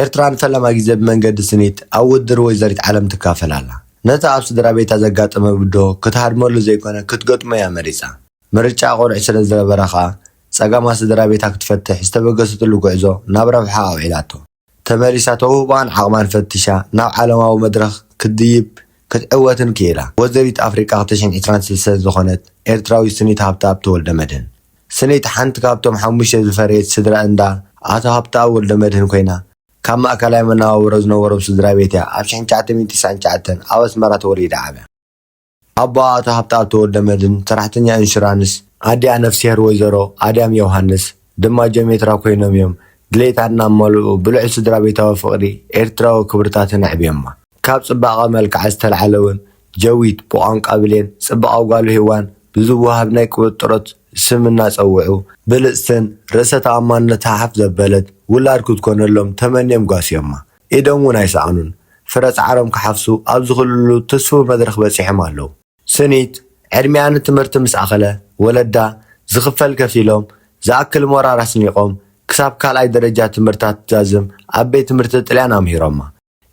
ኤርትራ ንፈለማ ግዜ ብመንገዲ ስኒት ኣብ ውድድር ወይዘሪት ዓለም ትካፈል ኣላ። ነቲ ኣብ ስድራቤታ ዘጋጠመ ብድሆ ክትሃድመሉ ዘይኮነ ክትገጥሞ እያ መሪጻ። ምርጫኣ ቁርዒ ስለ ዝነበረ ከኣ ጸገማት ስድራቤታ ክትፈትሕ ዝተበገሰትሉ ጉዕዞ ናብ ረብሓኣ ኣውዒላቶ። ተመሊሳ ተውህቦኣን ዓቕማን ፈቲሻ ናብ ዓለማዊ መድረኽ ክትድይብ ክትዕወትን ክኢላ። ወይዘሪት ኣፍሪቃ ክልተ ሽሕን ዕስራን ሰለስተን ዝኾነት ኤርትራዊት ስኒት ሃብተኣብ ተወልደመድህን፣ ሰነይቲ ሓንቲ ካብቶም ሓሙሽተ ዝፈረየት ስድራ እንዳ ኣቶ ሃብተኣብ ወልደመድህን ኮይና፣ ካብ ማእከላይ መነባብሮ ዝነበሮም ስድራቤት እያ ኣብ ሽሕን ትሽዓተ ሚእትን ትስዓን ትሽዓተን ኣብ ኣስመራ ተወሊዳ ዓብያ። ኣቦኣ ኣቶ ሃብተኣብ ተወልደመድህን ሰራሕተኛ ኢንሹራንስ፣ ኣዲኣ ነፍስሄር ወይዘሮ ኣድያም ዮውሃንስ ድማ ጀሜትራ ኮይኖም እዮም ድሌታ እናመልኡ ብልዑል ስድራቤታዊ ፍቕሪ ኤርትራዊ ክብርታትን ኣዕብዮማ። ካብ ጽባቐ መልክዓ ዝተልዓለ'ውን ጀዊት ብቋንቋ ብሌን ጽባቐ ጓሉ ሄዋን ብዝወሃብ ናይ ቅብጥሮት ስም እናጸውዑ፣ ብልጽትን ርእሰ ተኣማንነታ ሓፍ ዘበለት ውላድ ክትኮነሎም ተመንዮም ጓስዮማ። ኢዶም እውን ኣይሰኣኑን። ፍረ ጻዕሮም ክሓፍሱ ኣብ ዝኽእልሉ ትስፉው መድረኽ በጺሖም ኣለዉ። ስኒት ዕድሚኣ ንትምህርቲ ምስ ኣኸለ፣ ወለዳ ዝኽፈል ከፊሎም፣ ዝኣክል ሞራር ኣስኒቖም፣ ክሳብ ካልኣይ ደረጃ ትምህርታ ትዛዝም ኣብ ቤት ትምህርቲ ጥልያን ኣምሂሮማ።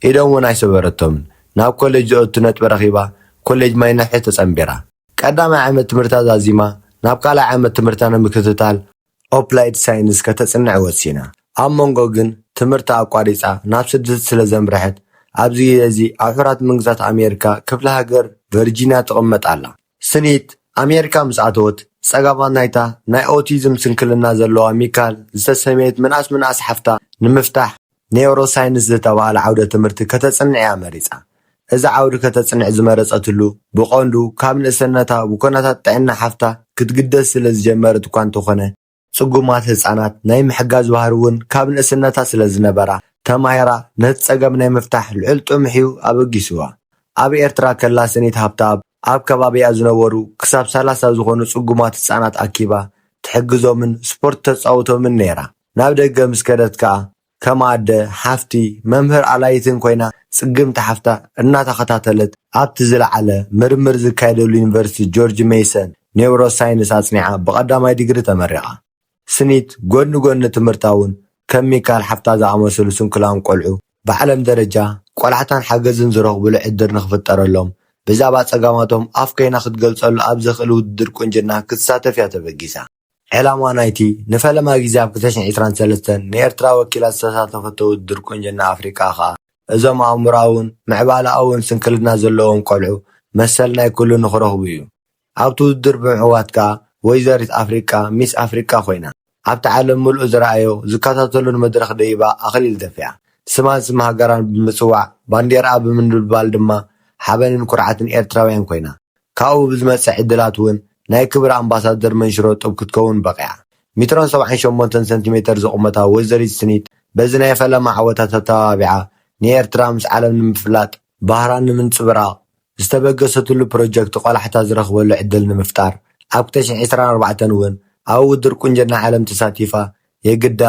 ኢዶም እውን ኣይሰበረቶምን። ናብ ኮሌጅ ዘእቱ ነጥቢ ረኺባ ኮሌጅ ማይነሕሒ ተጸንቢራ። ቀዳማይ ዓመት ትምህርታ ዛዚማ ናብ ካልኣይ ዓመት ትምህርታ ንምክትታል ኦፕላይድ ሳይንስ ከተጽንዕ ወሲና። ኣብ መንጎ ግን ትምህርታ ኣቋሪጻ ናብ ስድት ስለ ዘምርሐት ኣብዚ ግዜ እዚ ኣብ ሕራት መንግስታት ኣሜሪካ ክፍለ ሃገር ቨርጂንያ ትቕመጥ ኣላ። ስኒት፣ ኣሜሪካ ምስ ኣተወት፣ ጸገማት ናይታ ናይ ኦቲዝም ስንክልና ዘለዋ ሚካል ዝተሰምየት ምንኣስ ምንኣስ ሓፍታ ንምፍታሕ ኔውሮሳይንስ ዝተባህለ ዓውደ ትምህርቲ ከተጽንዕ እያ መሪጻ። እዚ ዓውዲ ከተጽንዕ ዝመረጸትሉ ብቐንዱ ካብ ንእሰነታ ብኵነታት ጥዕና ሓፍታ ክትግደስ ስለ ዝጀመረት'ኳ እንተዀነ፣ ጽጉማት ህጻናት ናይ ምሕጋዝ ባህሪ ውን ካብ ንእስነታ ስለ ዝነበራ፣ ተማሂራ ነቲ ጸገም ናይ ምፍታሕ ልዑል ጥሙሕ'ዩ ኣበጊሱዋ። ኣብ ኤርትራ ከላ ስኒት ሃብተኣብ ኣብ ከባቢኣ ዝነበሩ ክሳብ ሰላሳ ዝኾኑ ጽጉማት ህጻናት ኣኪባ ትሕግዞምን ስፖርት ተጻውቶምን ነይራ። ናብ ደገ ምስ ከደት ከኣ፣ ከም ኣደ፣ ሓፍቲ፣ መምህር ኣላዪትን ኮይና ጽግምቲ ሓፍታ እናተኸታተለት ኣብቲ ዝለዓለ ምርምር ዝካየደሉ ዩኒቨርሲቲ ጆርጅ መይሰን ኔውሮሳይንስ ኣጽኒዓ ብቐዳማይ ዲግሪ ተመሪቓ። ስኒት ጎኒ ጎኒ ትምህርታ'ውን ከም ሚካል ሓፍታ ዝኣመሰሉ ስንኩላን ቆልዑ ብዓለም ደረጃ ቆላሕታን ሓገዝን ዝረኽቡሉ ዕድር ንኽፍጠረሎም ብዛዕባ ጸገማቶም ኣፍ ኮይና ክትገልጸሉ ኣብ ዘኽእል ውድድር ቁንጅና ክትሳተፍ'ያ ተበጊሳ። ዕላማ ናይቲ ንፈለማ ግዜ ኣብ ክልተ ሽሕን ዒስራን ሰለስተን ንኤርትራ ወኪላ ዝተሳተፈቶ ውድድር ቁንጅና ኣፍሪቃ ከኣ፣ እዞም ኣእምሮኣውን ምዕባለኣውን ስንክልና ዘለዎም ቆልዑ መሰል ናይ ኩሉ ንኽረኽቡ'ዩ። ኣብቲ ውድድር ብምዕዋት ከኣ ወይዘሪት ኣፍሪቃ፣ ሚስ ኣፍሪቃ፣ ኮይና። ኣብቲ ዓለም ምሉእ ዝረኣዮ ዝከታተሎን መድረኽ ደይባ ኣኽሊል ደፊኣ። ስማን ስም ሃገራን ብምጽዋዕ፣ ባንዴራኣ ብምንብልባል ድማ ሓበንን ኩርዓትን ኤርትራውያን ኮይና። ካብኡ ብዝመጽእ ዕድላት እውን ናይ ክብሪ ኣምባሳደር መንሽሮ ጡብ ክትከውን በቒዓ። ሚትሮን ሰብዓን ሸሞንተን ሰንቲሜተር ዝቑመታ ወይዘሪት ስኒት በዚ ናይ ፈለማ ዓወታ ተተባቢዓ ንኤርትራ ምስ ዓለም ንምፍላጥ፣ ባህራ ንምንጽብራቕ፣ ዝተበገሰትሉ ፕሮጀክት ቆላሕታ ዝረኽበሉ ዕድል ንምፍጣር ኣብ ክልተ ሽሕ ዕስራን ኣርባዕተን እውን ኣብ ውድድር ቁንጅና ዓለም ተሳቲፋ የግዳ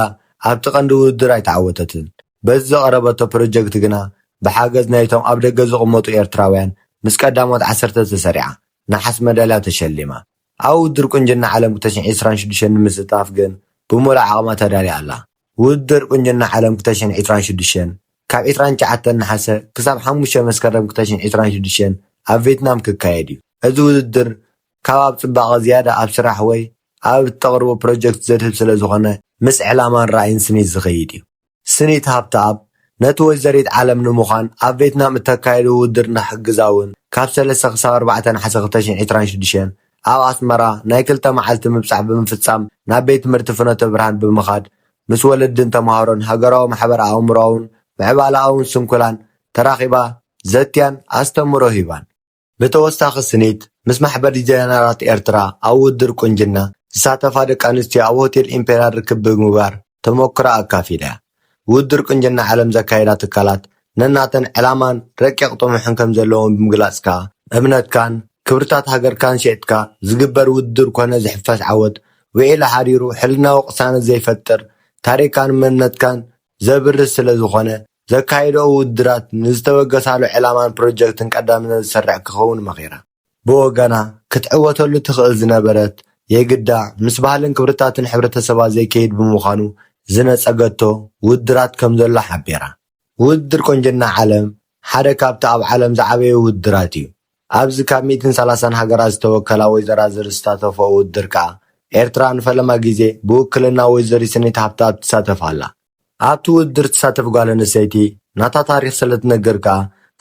ኣብቲ ቀንዲ ውድድር ኣይተዓወተትን። በዚ ዘቕረበቶ ፕሮጀክት ግና ብሓገዝ ናይቶም ኣብ ደገ ዝቕመጡ ኤርትራውያን ምስ ቀዳሞት ዓሰርተ ተሰሪዓ ነሓስ መዳልያ ተሸሊማ። ኣብ ውድድር ቁንጅና ዓለም ክልተ ሽሕን ዕስራን ሽዱሽተን ንምስታፍ ግን ብምሉእ ዓቕማ ተዳልያ ኣላ። ውድድር ቁንጅና ዓለም ክልተ ሽሕን ዕስራን ሽዱሽተን ካብ ዕስራን ትሽዓተን ነሓሰ ክሳብ ሓሙሽተ መስከረም ክልተ ሽሕን ዕስራን ሽዱሽተን ኣብ ቬትናም ክካየድ'ዩ። እዚ ውድድር ካብ ኣብ ጽባቐ ዝያዳ ኣብ ስራሕ ወይ ኣብ እተቕርቦ ፕሮጀክት ዘድህብ ስለ ዝዀነ፣ ምስ ዕላማን ራእይን ስኒት ዝኸይድ እዩ። ስኒት ሃብተኣብ፣ ነቲ ወይዘሪት ዓለም ንምዃን ኣብ ቬትናም እተካይዶ ውድድር ንኽሕግዛ እውን ካብ ሰለስተ ክሳብ ኣርባዕተ ነሓሰ ክልተ ሽሕን ዕስራን ሽዱሽተን ኣብ ኣስመራ ናይ ክልተ መዓልቲ ምብጻሕ ብምፍጻም ናብ ቤት ትምህርቲ ፍኖተ ብርሃን ብምኻድ ምስ ወለድን ተማሃሮን ሃገራዊ ማሕበር ኣእምሮኣውን ምዕባለኣውን ስንኩላን ተራኺባ ዘትያን ኣስተምህሮ ሂባን። ብተወሳኺ ስኒት ምስ ማሕበር ዲዛይነራት ኤርትራ ኣብ ውድድር ቁንጅና ዝሳተፋ ደቂ ኣንስትዮ ኣብ ሆቴል ኢምፔርያል ርክብ ብምግባር ተሞክሮኣ ኣካፊላ'ያ። ውድድር ቁንጅና ዓለም ዘካይዳ ትካላት ነናተን ዕላማን ረቂቕ ጥሙሕን ከምዘለወን ብምግላጽ ከኣ፣ እምነትካን ክብርታት ሃገርካን ሸጥካ ዝግበር ውድድር ኮነ ዝሕፈስ ዓወት ውዒሉ ሓዲሩ ሕልናዊ ቅሳነት ዘይፈጥር፣ ታሪኽካን መንነትካን ዘብርስ ስለዝኾነ፣ ዘካይድኦ ውድድራት ንዝተበገሳሉ ዕላማን ፕሮጀክትን ቀዳምነት ዝሰርዕ ክኸውን መኺራ። ብወገና ክትዕወተሉ ትኽእል ዝነበረት የግዳ ምስ ባህልን ክብርታትን ሕብረተሰባ ዘይከይድ ብምዃኑ ዝነጸገቶ ውድድራት ከምዘሎ ሓቢራ። ውድድር ቁንጅና ዓለም ሓደ ካብቲ ኣብ ዓለም ዝዓበዩ ውድድራት እዩ። ኣብዚ ካብ ሚእትን ሰላሳን ሃገራት ዝተወከላ ወይዘራዝር ዝስታተፍኦ ውድድር ከኣ ኤርትራ ንፈለማ ግዜ ብውክልና ወይዘሪት ስኒት ሃብተኣብ ትሳተፍ ኣላ። ኣብቲ ውድድር ትሳተፍ ጓል ኣንስተይቲ ናታ ታሪኽ ስለትነግር ከኣ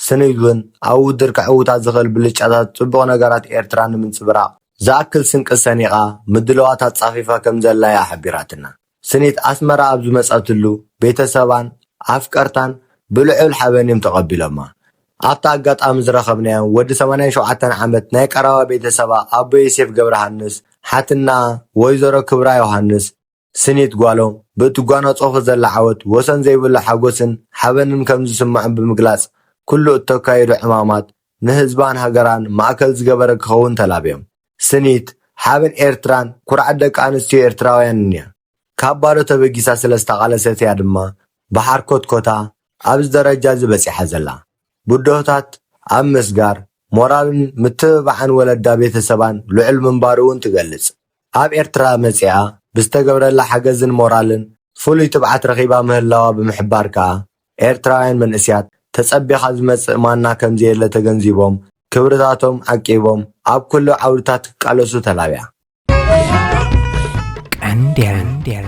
ስኒል ውን ኣብ ውድድር ከዕውታ ዝኽእል ብልጫታትን ጽቡቕ ነገራት ኤርትራን ንምንጽብራቕ ዝኣክል ስንቂ ሰኒቓ ምድላዋት ኣጻፊፋ ከምዘላ'ያ ሓቢራትና። ስኒት ኣስመራ ኣብ ዝመጸትሉ ቤተሰባን ኣፍቀርታን ብልዑል ሓበን'ዮም ተቐቢሎማ። ኣብቲ ኣጋጣሚ ዝረኸብናዮም ወዲ ሰማንያን ሸውዓተን ዓመት ናይ ቀረባ ቤተሰባ ኣቦ ዮሴፍ ገብረሃንስ፣ ሓትነኣ ወይዘሮ ክብራ ዮሃንስ፣ ስኒት ጓሎም ብእትጓናጸፎ ዘላ ዓወት ወሰን ዘይብሉ ሓጎስን ሓበንን ከም ዝስምዖም ብምግላጽ፣ ኩሉ እተካይዶ ዕማማት ንህዝባን ሃገራን ማእከል ዝገበረ ክኸውን ተላብዮም። ስኒት፣ ሓበን ኤርትራን ኩርዓት ደቂ ኣንስትዮ ኤርትራውያንን እያ። ካብ ባዶ ተበጊሳ ስለ ዝተቓለሰት እያ ድማ ብሓርኮትኮታ ኣብዚ ደረጃ'ዚ በጺሓ ዘላ። ብድሆታት ኣብ ምስጋር፣ ሞራልን ምትብባዕን ወለዳ ቤተ ሰባን ልዑል ምንባሩ'ውን ትገልጽ። ኣብ ኤርትራ መጺኣ ብዝተገብረላ ሓገዝን ሞራልን ፍሉይ ትብዓት ረኺባ ምህላዋ ብምሕባር ከኣ፣ ኤርትራውያን መንእሲያት ተጸቢኻ ዝመጽእ ማና ከምዘየለ ተገንዚቦም ክብርታቶም ዓቂቦም ኣብ ኩሉ ዓውድታት ክቃለሱ ተላብያ። ቀንዴል።